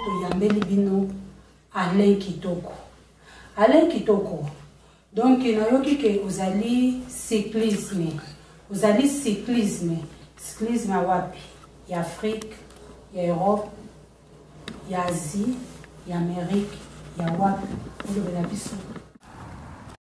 toyambeli bino alain kitoko alain kitoko donc nayoki ke ozali cyclisme ozali cyclisme cyclisme ya wapi ya afrique ya europe ya asie ya amerique ya wapi olobela biso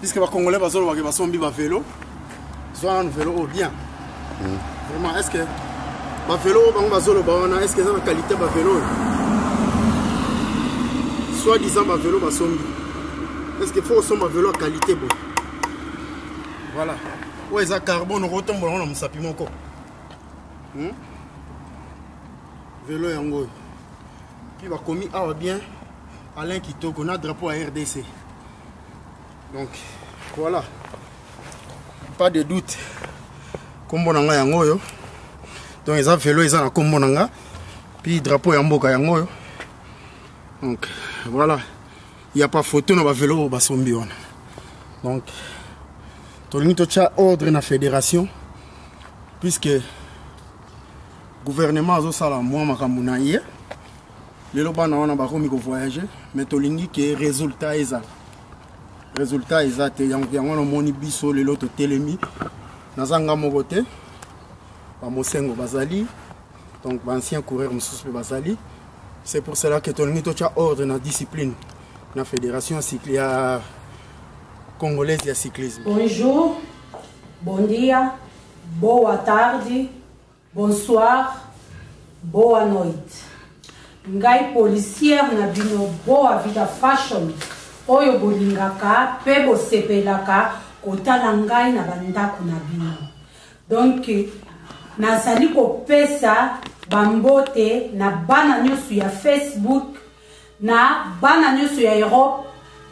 puisque bacongolais bazolobake basombi bavelo zwa nanu velo oyo oh, bien hmm. vraiment est ce que bavelo oyo bango bazoloba wana est ce que eza na qualité bavelo oyo soit disant bavelo basombi est ce que fo osomba velo ya qualité boye voilà oyo eza carbone okotombola yango na mosapi moko hmm? velo yango oyo Puis bakomi awa bien Alain Kitoko na drapeau ya RDC. Donc voilà. Pas de doute. Kombo na nga yango oyo. Donc eza velo eza na kombo na nga. Puis drapeau ya mboka yango oyo. Donc voilà. Il n'y a pas photo na ba velo ba sombi wana. Donc tolingi totya ordre na fédération puisque gouvernement azosala mwa makambo na ye lelo bana wana bakomi kovoyage mais tolingi ke résultat ezala résultat eza te yango yango wana omoni biso lelo totelemi naza nga moko te bamosengo bazali donc baancien coureur mosusu mpe bazali c'est pour cela que tolingi totya ordre na discipline na fédération ya congolaise ya cyclisme bonjour bon dia boa tarde Bonsoir, boa noite. Ngai policière na bino boa vida fashion oyo bolingaka pe bosepelaka kotala ngai na bandako na bino. Donc nazali kopesa bambote na bana nyonso ya facebook na bana nyonso ya europe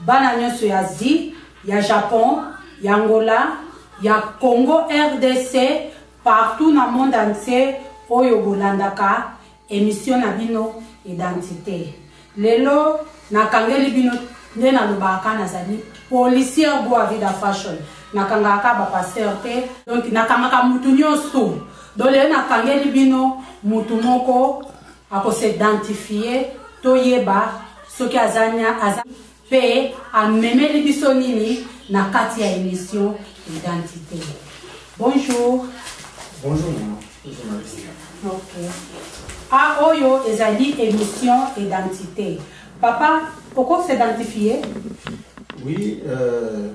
bana nyonso ya asie ya japon ya angola ya congo rdc Partout na monde entier oyo bolandaka emission na bino identite. Lelo nakangeli bino nde nalobaka kaka nazali policière boa vida fashion nakangaka kaka bapasteur te donc nakangaka motu nyonso donc lelo nakangeli bino motu moko akosidentifier toyeba soki aza Pe amemeli biso nini na kati ya emission identité. Bonjour. Bonjour maman. Ok. Ah oyo ezali émission identité. Papa, pourquoi s'identifier Oui, euh,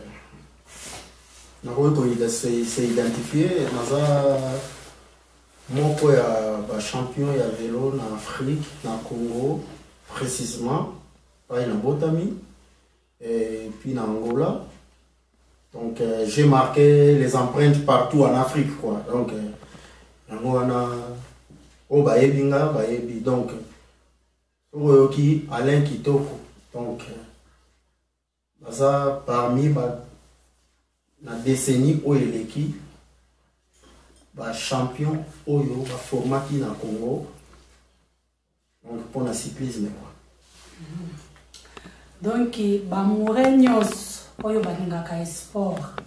nakoki koidentifie naza moko ya bachampion ya velo na afrique na congo précisement pai na botami et puis na angola donc euh, j'ai marqué les empreintes partout en afrique quoi donc euh, yango wana oyo bayebi nga bayebi donc soki oyoki alain kitoko donc euh, baza parmi ba na décennie oyo eleki bachampion oyo baformaki na congo donc pona cyclisme quoi donc bamoure nyonso oyo balingaka esport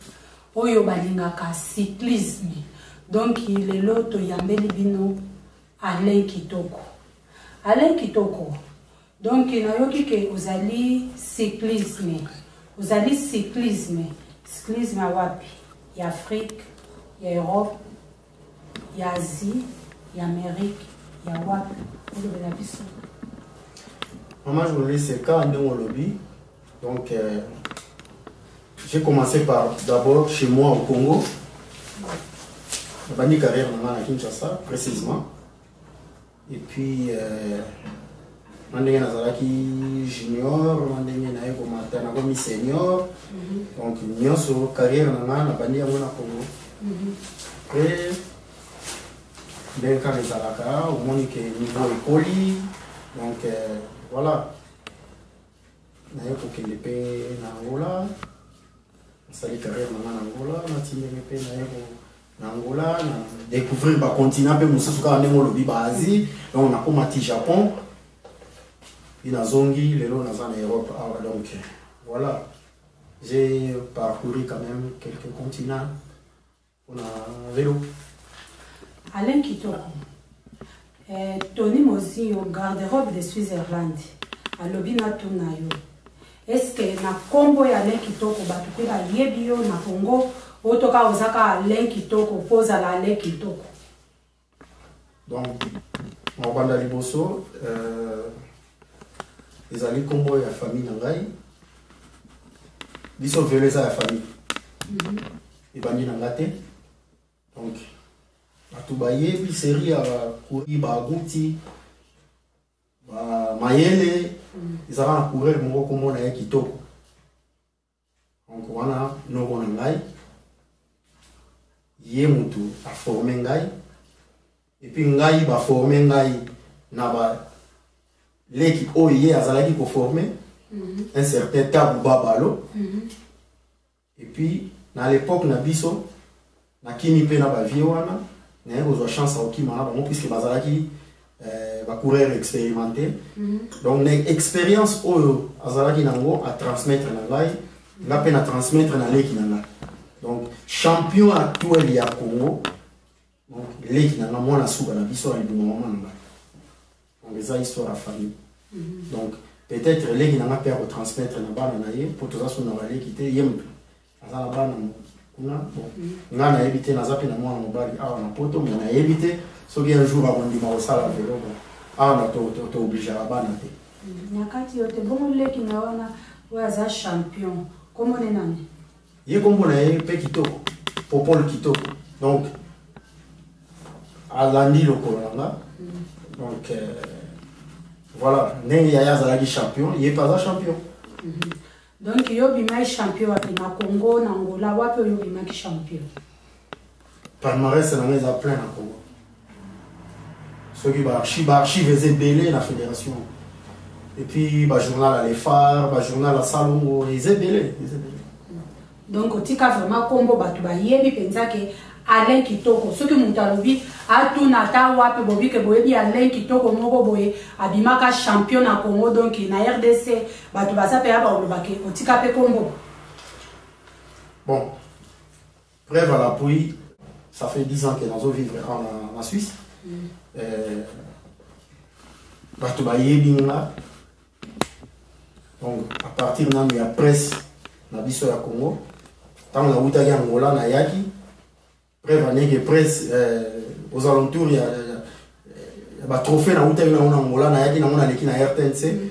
oyo balingaka cyclisme donc lelo toyambeli bino alain kitoko alain kitoko donc nayoki ke ozali cyclisme ozali cyclisme cyclisme ya wapi ya afrique ya europe ya asie ya amerike ya wapi olobela biso mama journaliste kaka ndenge olobi donc euh, j'ai commencé par d'abord chez moi au congo nabandi carrière na ngai na kinshasa précisément et puis euh, na ndenge nazalaki junior na ndenge naye komata nakomi senior mhm. donc nyonso carrière na ngai nabandi yango na congo mhm. après ndenge kaka ezalaka omoni ke niveau ekoli donc euh, voilà naye kokende mpe na angola nasali carrière na ngai na angola nati ndenge mpe naye na Angola na découvrir ba continent mpe mosusu kaka ndenge olobi ba Asie donc nakoma ti Japon mpe nazongi lelo naza na Europe awa donc voilà j'ai parcouru quand même quelques continents mpona velo Alain Kitoko Eh, Tony Mozinho, garde-robe de Switzerland, alobi na tuna yo. Est-ce que na kombo ya Alain Kitoko bato pe bayebi yo na Congo otoka ozaka Alain Kitoko po ozala Alain Kitoko? Donc mabanda liboso euh, ezali kombo ya famille na ngai biso velo eza ya famille mhm. ebandi na ngai te donc bato bayebi serie ya kori baguti ba mayele ezalaka na coureur moko kombo na ye kitoko donc wana noko na ngai ye motu aforme ngai epuis ngai baforme ngai na baleki oyo ye azalaki koforme mm -hmm. un certain tabu babalo mm -hmm. et puis na l'époque na biso nakimi mpe na bavie wana naye kozwa chance ya kokima na bango puisque bazalaki euh, bacoureur expérimenté mhm. donc na expérience oyo azalaki nango atransmettre na ngai nga mpe na transmettre na leki na ngai donc champion actuel ya congo leki na nga mwana suka na biso aliboma mama na ngai donc eza histoire ya famille mhm. donc peut-être leki na nga mpe akotransmettre na bana na ye mpo toza so na baleki te ye moto aza na bana kuna bon mhm. ngai nayebi te naza mpe na mwana mobali awa na poto me nayebi te soki un jour akondima kosala velo bon awa na toobligeaka bana te mhm. na kati yo te bongo leki na wana oyo aza champion komone nani ye kombo na ye mpe kitoko popol kitoko donc alandi lokolo na nga donc euh, voilà ndenge yaya azalaki champion ye mpe aza champion mhm. donc yo obimaki champion wapi na congo na angola wapi oyo obimaki champion palmarès na ngai eza plein na congo soki baarchive baarchive eza ebele na fédération epuis bajournal ya lefar bajournal ya salongo eza ebele eza ebele donc otika vraiment nkombo bato bayebi mpenza ke alain kitoko soki moto alobi atuna ata wapi bobi ke boyebi alain kitoko moko boye abimaka champion na congo donc na rdc bato baza mpe ya baolobake otika mpe nkombo bon Preuve à l'appui, ça fait 10 ans que nazo vivre en, en Suisse. Mm. Euh, bato bayebi nga donc à partir nanu ya presse na biso ya congo ntango nawutaki angola nayaki preuve aneke presse euh, aux alentours ya, ya, ya batrophée nawutaki nango na angola nayaki nango naleki na rtnc mm.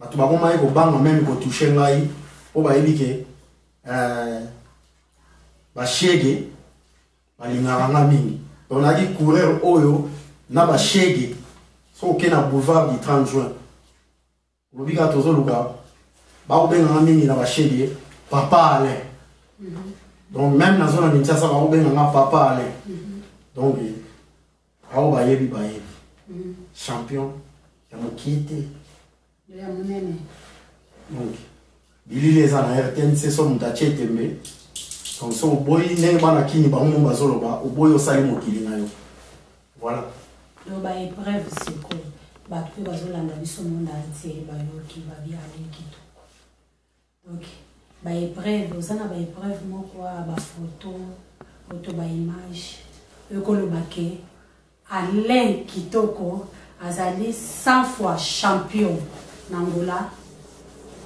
bato bakomaki kobanga meme kotouche ngai mpo bayebi ke euh, bashege balingaka nga mingi donc nayaki coureur oyo na bashege soki oke na boulevard du 30 juin olobi kaka tozoluka bakobenga nga mingi na bashege papa alain mhm. donc meme nazo na kinshasa bakobenga nga papa alain mhm. donc Aho bayebi bayebi. Mm. Champion ya mokie te. Ya monene. Donc bilili eza na RTNC so moto atie tembe. Donc so oboyi ndenge bana kini bango mo bazoloba oboyi osali mokili na yo. Voilà. Donc ba épreuve sikoyo bato mpe bazolanda biso monde entier bayoki babi aleki to Ok. Ba epreuve, oza na ba epreuve moko wa ba photo, oto ba image. Ekoloba ke Alain Kitoko azali 100 fois champion na Angola,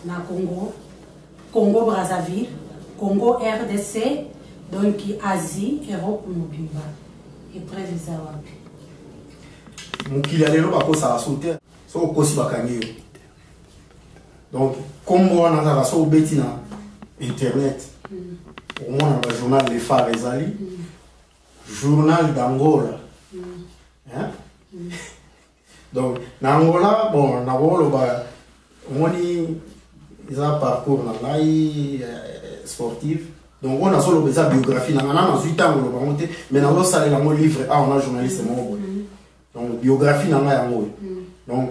na Congo, Congo Brazzaville, Congo RDC, donc Asie, Europe mobimba. Epreuve eza wapi? Mokili ya lelo bakosaka so te. Soki okosi bakangi yo. donc nkombo wana kaka so obeti na internet okomona ba journal le phare ezali journal d'angola hein? donc na angola bon nakoloba omoni eza parcours na ngai eh, sportif donc oyo nazoloba eza biographie na ngai na nazwi ntango oloba yango te mais nazosalela yango livre awa na journaliste moko boye donc biographie na ngai yango oyo donc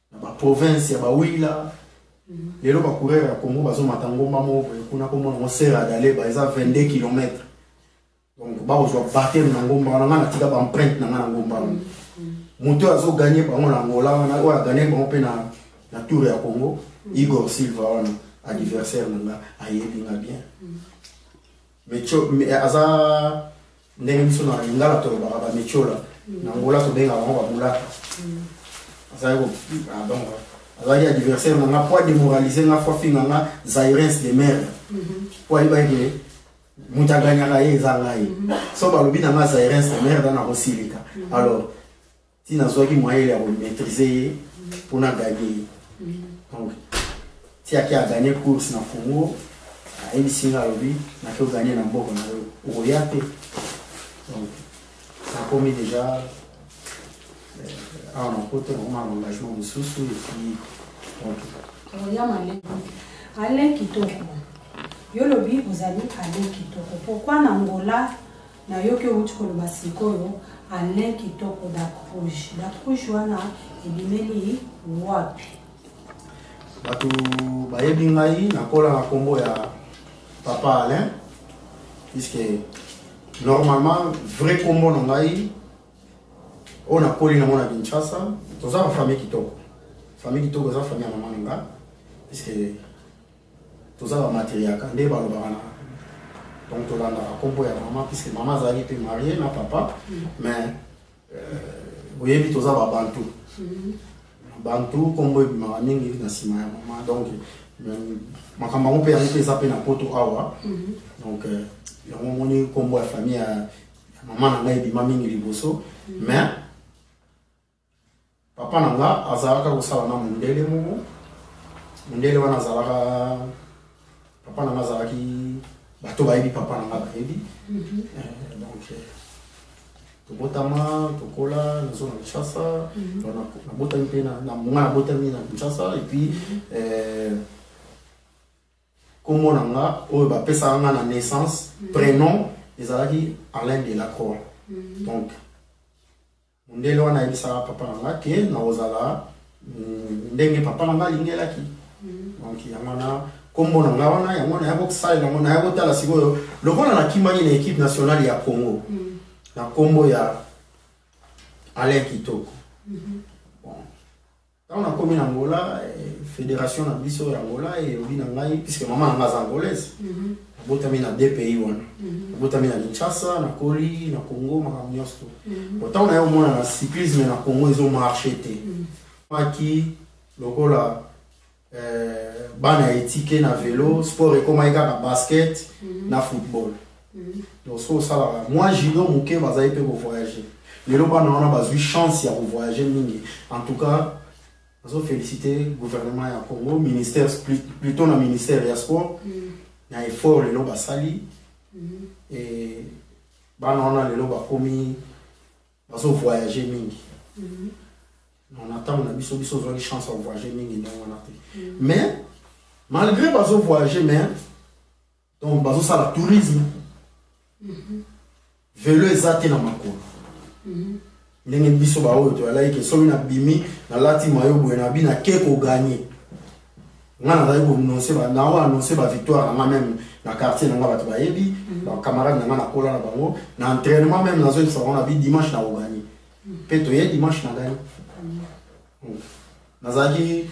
na ba province ya ba wila mhm. lelo ba coureur ya Congo bazo mata ngomba moko boye kuna ko mona Serra d'Aleba eza 22 km donc ba kozwa baptême na ngomba wana nga na tika ba empreinte na nga na ngomba wana mhm. moto oyo azo gagner bango na Angola wana oyo a gagner bango pe na na tour ya Congo mhm. Igor Silva wana adversaire na nga ayebi nga bien mecho aza ndenge biso na lingala tolobaka bamechola mm. na ngola tobengaka yango bamulaka mm. azalaki ah, donc azalaki adversaire na nga mpo ademoralise nga fo afinga nga zairens de merde mpo mm-hmm. ayebaki ke moto aganyaka ye eza ngai mm-hmm. so balobi na nga zairens de merde nakosilika mm-hmm. alors ti nazwaki moyen ya komaîtrise ye mpo na ganye ye donc ti ake aganye course na congo ayebisi nga alobi nake oganye na mboka na yo okoya te donc nakomi déjà euh, awa na poto nakoma na engagement mosusu epuis donc oya maleki ale kitoko yo lobi ozali ale kitoko pourkui na ngola nayoki owuti koloba sikoyo alain kitoko dak rouge dak rouge wana ebimeli wapi bato bayebi ngai nakola na nkombo ya papa alain puiske normalement vrai nkombo na ngai oyo nakoli nango na kinshasa toza na famille kitoko famille kitoko eza famille ya mama na nga puiske toza ba matriaka nde balobaka na donc tolandaka nkombo ya mama puisque mama azalaki mpe marie na papa mais euh, oyebi toza babantu bantu nkombo ebimaka mingi na nsima ya mama donc euh, makambo yango mpe yango mpe eza mpe na poto awa donc euh, yango omoni nkombo ya famille ya mama na ngai ebima mingi liboso mais papa na nga azalaka kosala na mondele moko mondele wana azalaka papa na nga azalaki bato bayebi papa na nga bayebi mhm. eh, donc eh, tobotama tokola nazo na kinshasa mhm. nabotami mpe nga nabotami na kinshasa epuis mhm. eh, kombo na nga oyo bapesaka nga na naissance prénom ezalaki alain de la croix donc Mundele wana ayebisaka papa na nga ke nakozala mm, ndenge papa na nga alingelaki mm. donc yango wana nkombo na ngai wana yango naya kosalela yango naya kotala sikoyo lokola nakimaki na équipe nationale ya congo mm. na nkombo ya alain kitoko mm -hmm. Ntango nakomi na Angola, eh, federation na biso ya Angola elobi na ngai, puisque mama na ngai aza angolaise, mhm. nabotami na deux pays wana, mhm. nabotami na Kinshasa, nakoli na Congo, makambo nyonso to. Mhm. Ntango naye omona na cyclisme na Congo ezo marche te, maki lokola eh, bana etike na velo, sport ekomaki kaka basket na football. donc soki osalaka mwa junior moke bazali mpe kovoyage lelo bana wana bazwi chance ya kovoyage mingi en tout cas nazo félicité gouvernement ya congo ministère plutôt na ministère ya sport mm. na effort lelo basali mm-hmm. e bana wana lelo bakomi bazo voyage mingi mm-hmm. na ntango na biso biso ozwaki chance ya voyage mingi ndenge wana te mm. mais malgré bazo voyage mais donc bazosala tourisme mhm. velo eza te na makolo mhm. ndenge biso baoyo toyalaki ke soki nabimi nalati mayo boye nabi nake koganye ngai nazali kononse nao anonse bavictoire na ngai meme na quartier na ngai bato bayebi mhm. bacamarade na ngai nakola na bango na entrainement meme nazoyebisa bango nabi dimanche nakoganye mpe toye dimanche na ganye nazalaki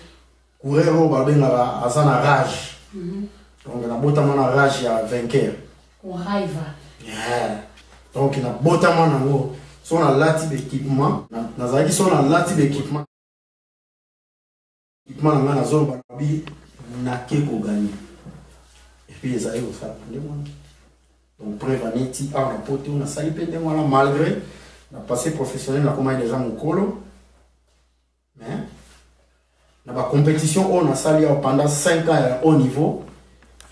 coureur oyo babengaka aza na rage mhm. donc nabotama na rage ya vainqueur donc nabotama nango so nalati baéquipement nazalaki so nalati baéquipement équipement na ngai nazoloba nabi nake koganye epuis ezali kosala ndenge wana donc preuve aneti awa na poto nasali mpe ndenge wana malgré na passé professionnel nakomaki deja mokolo mais na ba compétition oyo nasali yawa pendant 5 ans ya haut niveau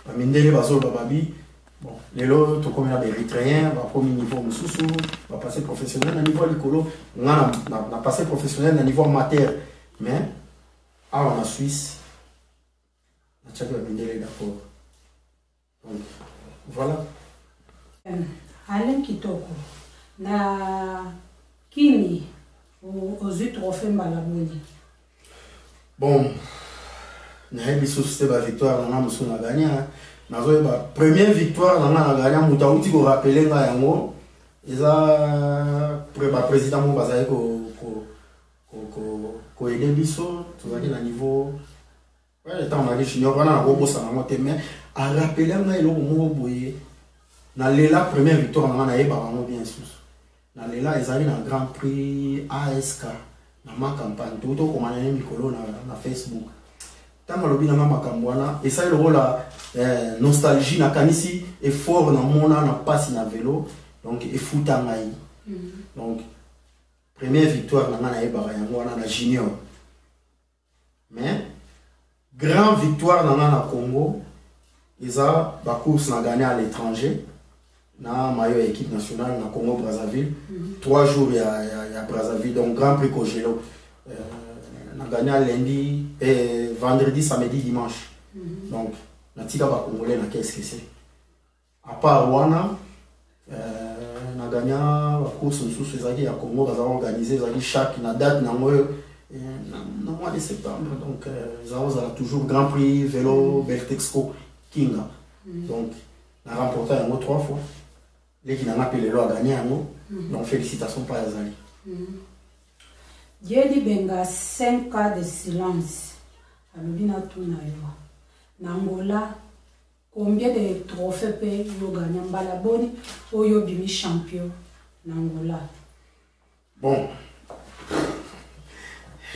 bamindele bazoloba babi bon lelo tokomi na baérythréen bakomi niveau mosusu bapasse professionnel na niveau ya likolo nga na passe professionnel na niveau amateur mais awa na suisse natiaki bamindele d'accord Voilà. Euh, Alain Kitoko, na Kini, ozwi trophée mbala boni? Bon, nayebi susu te bavictoire na nga mosusu na gagna hein. nazoyeba première victoire na nga na gagna moto auti korapele nga yango eza baprésident moko bazali koyede biso tozalaki na niveau ntango naki junior wana nakobosana yango te mais arapela ngai eloko moko boye nalela première victoire na ngai nayebaka yango bien susu nalela ezali na grand prix ask na ma campagne touti okomana ye mikolo na, na facebook ntango alobi nanga makambo wana esali lokola eh, nostalgie nakanisi effort namona na mpasi na velo donc efuta ngai mm. donc première victoire na ngai nayebaka yango wana na junior mais grand victoire na nga na congo eza bacourse na gagné à l'étranger na mayo ya équipe nationale na congo brazzaville mm -hmm. trois jours ya, ya, ya brazzaville donc grand prix cogelo euh, na gagné lundi eh, vendredi samedi dimanche mm -hmm. donc natika bacongolais na qu'est ce que c'est à part wana euh, na gagna bacourse mosusu ezalaki ya congo baza organise ezalaki chaque na date nango oyo euh, na mois de septembre donc euh, eza kozala toujours grand prix vélo mm. beltexco kinga mm. donc na remporta yango trois fois leki nanga mpe lelo agagna yango mm. donc félicitation mpa azali yedi benga 5 cas de silence alobi natuna yo na ngola Combien de trophées pe yo gagna mbala boni oyo bimi champion na Angola? Bon.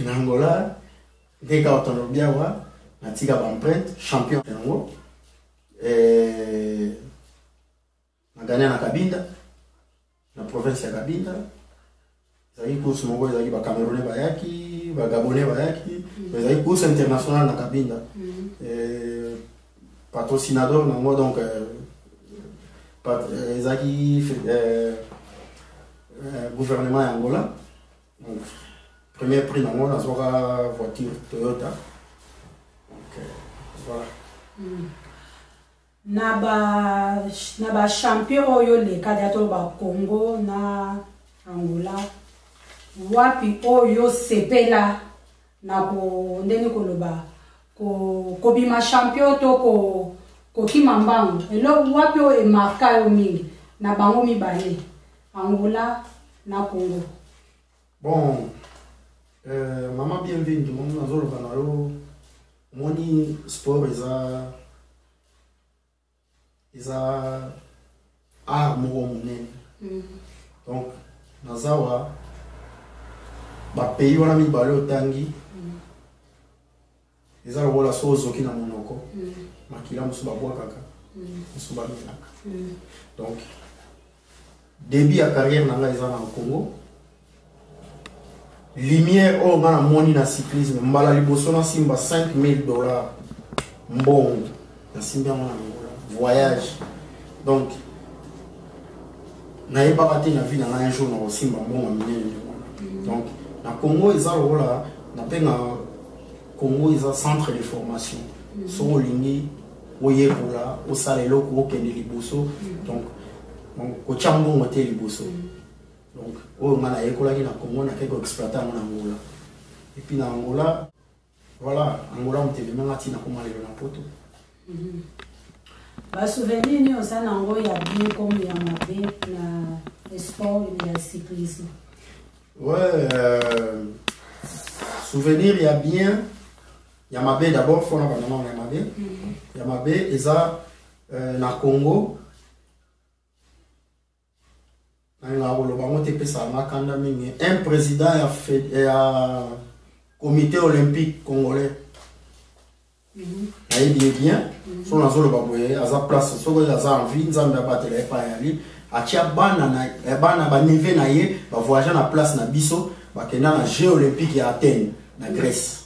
Na Angola ndenge kaka tolobi awa natika baempreinte champion yango eh, Magania na Kabinda, na province ya Kabinda, ezalaki course moko ezalaki ba Camerounais bayaki, ba Gabonais bayaki, mm. ezalaki course internationale na Kabinda. Mm. Euh, patrocinador na ngo donc euh, euh, ezalaki gouvernement ya Angola. Donc, premier prix na ngo nazwaka voiture Toyota. Donc, voilà. Mm. na ba na ba champion oyo leka dia to ba Congo na Angola wapi oyo sepela na ko ndeni koloba ko kobima champion to ko kokima mbango eloko wapi oyo emarka yo mingi na bango mibale Angola na Congo bon euh, mama bienvenue nazoloba na yo omoni sport eza eza art moko monene mm. donc naza wa bapays wana mibale otangi mm. eza lokola so ozoki na monoko mm. makila mosusu babwakaka mosusu bamelaka donc début ya carrière na ngai eza na congo lumière oyo nga namoni na cyclisme mbala liboso nasimba 5000 dollars mbongo nasimbi yango na angola voyage donc nayebaka te na vie na ngai un jour nakosimba mbongo minene nde wana mm. donc na congo eza lokola napenga congo eza centre de formation mm. soki olingi oyekola osala eloko okende liboso mm. donc kotya mbongo te liboso mm. donc oyo ngai nayekolaki na congo nakei koexploite yango na angola epuis na angola voilà angola motelemanga ntina koma lelo na poto mm-hmm. basouvenir nini oza na yango ya bien comme ya mabe na sport ya cyclisme ouais euh, souvenir ya bien ya mabe d'abord fona banda nano ya mabe mhm. ya mabe eza euh, na congo nalingaka koloba yango te epesaka nga kanda mingi un président ya, ya comité olympique congolais nayebi ye bien mhm. so nazoloba boye aza place soki aza envie nzambe abatela ye epai yali atya bana eh, bana banive na ye bavoyage na place na biso bakenda na jeu olympique ya athènes na grèce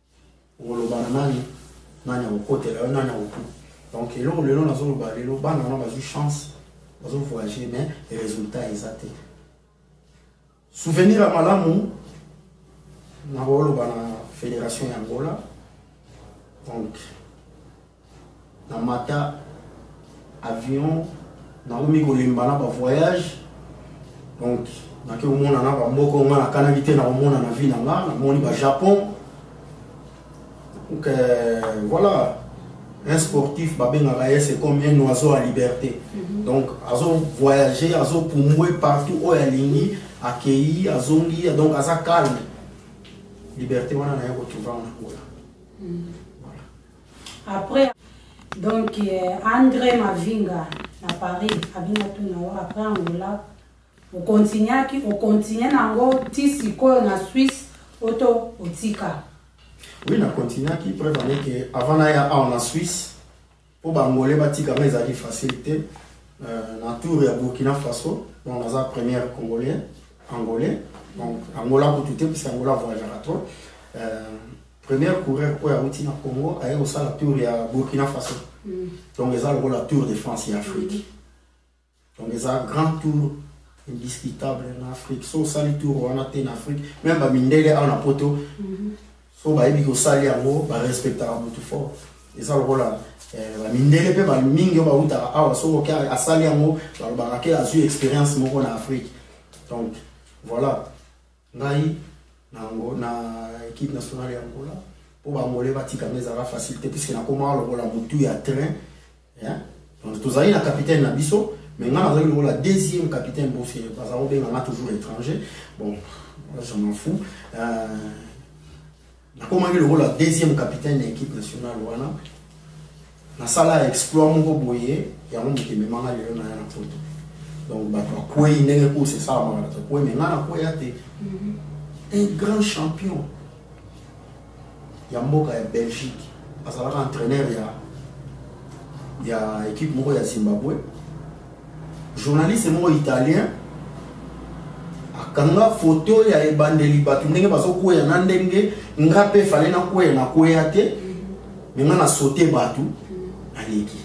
okoloba na nani nani akokotela yo nani akoku donc eloko lelo nazoloba lelo bana wana bazwi chance bazovoyage mais résultat eza te souvenir ya malamu nakoloba na fédération ya angola donc na mata avion nakomi kolemba na bavoyage donc nake komona na bamboka nga nakanaki te nakomona na vie na nga namoni bajapon donc euh, voilà un sportif babengaka ye c'est comme un oiseau à liberté mm -hmm. donc azo voyager azo pumbwe partout oyo alingi akei azongi donc aza calme liberté wana naye kotrouva na angola mm -hmm. Après, donc euh, André Mavinga na Paris abina tout na yo après Angola okontinyaki okontinye nango ti sikoyo na Suisse oto otika oui na continuaki preuve ane ke avant naya awa na Suisse mpo bangole batikama ezalaki facile te euh, na tour ya Burkina Faso donc naza première congolais angolais donc angola kutu te puisque angola voyagaka trop euh, Premier coureur oyo awuti na Congo aye kosala tour ya Burkina Faso. Mm. Donc eza lokola Tour de France ya Afrique. Mm. Donc eza grand tour indiscutable na Afrique. So osali tour wana te na Afrique, même ba mindele awa na poto. Mm -hmm. So bayebi kosali yango ba respectaka mutu fort. Eza lokola eh, ba mindele pe ba mingi oyo bawutaka awa so oke asali yango balobaka ke azwi experience moko na Afrique. Donc voilà. ngai na ngo na équipe nationale ya Angola po ba ngole batika mais ezalaka facile te puisque nakoma lokola mutu ya train hein donc tozali na capitaine na biso mais ngai nazali lokola deuxième capitaine parce que baza kobenga nga toujours étranger bon je m'en fous euh, nakomaki lokola deuxième capitaine ya équipe nationale wana nasala exploit moko boye yango moto ememanga lelo na ya na poto donc bato bakwei ndenge course esalamaka bato bakwei me ngai nakweya te mhm. un grand champion ya mboka ya belgique azalaka entraîneur ya ya équipe moko ya zimbabwe journaliste moko italien akanga foto ya ebandeli bato ndenge bazokweya na ndenge nga mpe fale nakweya nakweya te me nga na sote bato naleki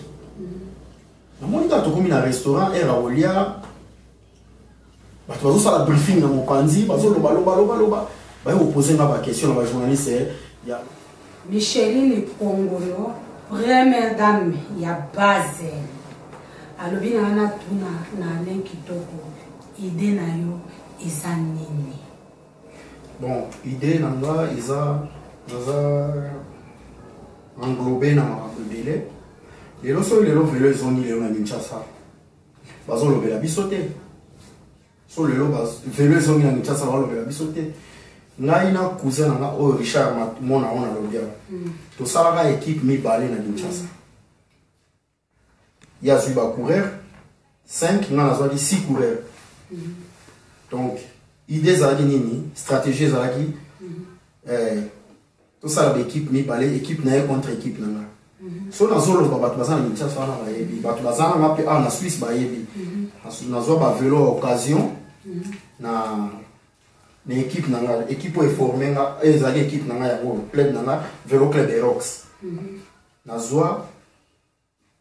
namoni kaka tokomi na restaurant air aolia bato bazosala briefing na mopanzi bazoloba loba loba loba baye kopose nga baquestion na bajournaliste eh, ya micheline pongolo première dame ya base alobi na wana tuna na alain kitoko ide na yo eza nini bon ide na nga eza naza englobe na makambo ebele lelo soki lelo velo ezongi lelo na kinshasa bazolobela biso te so lelo velo ezongi na kinshasa balobela biso te ngai na cousin na nga oyo richard mona yango na lobia mm. tosalaka ekipe mibale na kinshasa ye azwi bacoureur 5 ngai nazwaki 6 coureur mm. donc idée ezalaki nini stratégie ezalaki mm. eh, tosala baekipe mibale ekipe na ye contre ekipe na nga mhm. so nazoloba bato baza na kinshasa wana bayebi bato baza na nga mpe awa na swisse bayebi mhm. nazwa bavelo ya occasion mhm. na na ekipe na nga ekipe oyo eforme nga ezali ekipe na nga yango club na nga velo club erox nazwa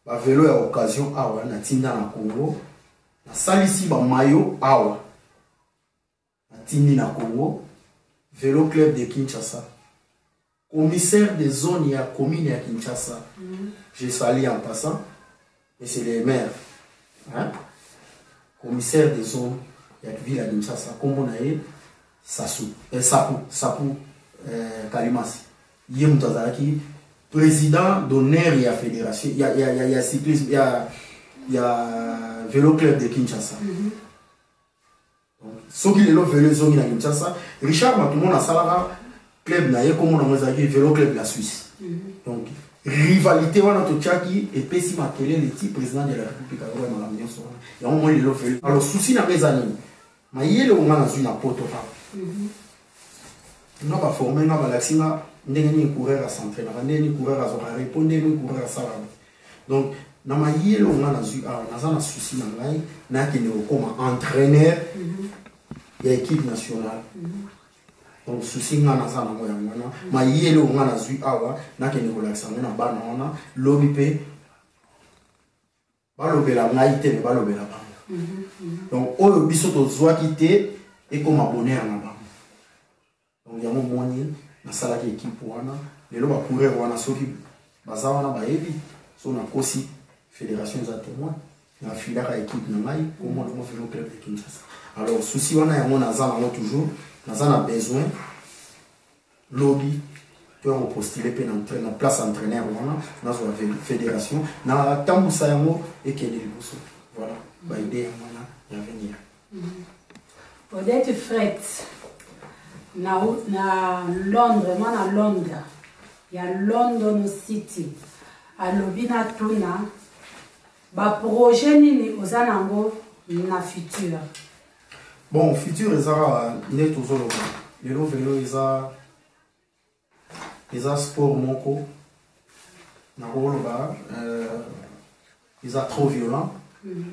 bavelo ya occasion awa natinda na congo nasalisi bamayo awa Atindi na Congo Velo Club de Kinshasa. Commissaire de zone ya commune ya Kinshasa. Mm -hmm. Je salue en passant. Et c'est les maires. Hein? Commissaire de zone ya ville ya Kinshasa. Kombo na ye Sasu. Eh, Sapu. Sapu. Eh, Kalimasi. Ye moto azalaki président d'honneur ya fédération ya, ya, ya, ya cyclisme ya, ya vélo club de Kinshasa. Mm -hmm. soki lelo velo ezongi na kinshasa richard matumona asalaka club na ye kombo nango ezalaki velo club la suisse mhm. donc rivalité wana totyaki epesi makelele ti président de la république ayoka makambo nyonso wana yango moi lelo velo alors susi na nga eza nini mayele onga nazwi na poto kaka mhm. nga baforme nga balakisi nga ndenge nini coureur acentrainaka ndenge nini coureur azwaka repo ndenge nini coureur asalaka donc na mayele oyo nga nazwi awa ah, naza na souci na ngai nakende kokoma entraîneur mhm. ya équipe nationale mhm. donc souci nga naza nango yango wana mhm. mayele oyo nga nazwi awa ah, nakende kolakisa yango na bana wana lobi mpe balobela ngai te me balobela bango donc oyo biso tozwaki te ekoma bonheur na bango donc yango omoni nasalaki ekipe wana lelo bacoureur wana soki baza wana bayebi so nakosi fédération eza témoin nafilaka ekipe na ngai kombo nango velo club de kinshasa alors souci wana yango naza nango toujours naza na besoin lobi to yango postule mpe na place entraîneur wana nazwa fédération natambusa yango ekende liboso voilà baide yango wana ya venir Odette Fret na, na Londres, mwana Londres ya London City alobi na tuna baprojet nini oza nango na futur bon futur eza kaka nde tozoloba lelo velo eza eza sport moko nakoloba euh, eza trop violent mhm.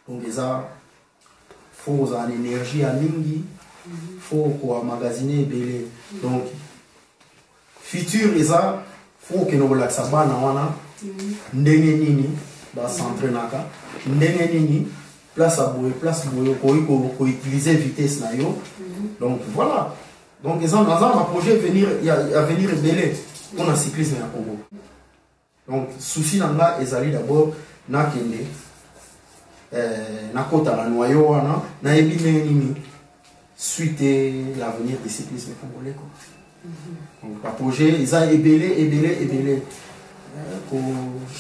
donc eza fo kozala na énergie ya mingi mhm. fo koa magasine ebele mhm. donc future eza fo kokende kolakisa bana wana ndenge nini basentrenaka ndenge nini place ya boye place boye okoki koutilize vitesse na yo donc voilà donc eza naza na baprojet venir ya avenir ebele mpo na cyclisme ya congo donc souci na nga ezali d'abord nakende eh, nakota na noyo wana nayebi ndenge nini suite l'avenir du cyclisme congolais quoi mhm. donc baprojet eza ebele ebele ebele ko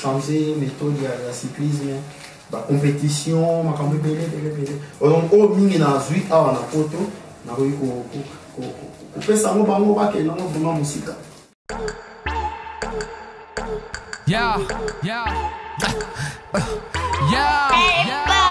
changer méthode ya, ya cyclisme bacompétition makambo ebele ebele ebele donc oyo mingi nazwi awa na poto nakoki kopesa yango bango bakende yango vraiment mosika Yeah, yeah, yeah, yeah.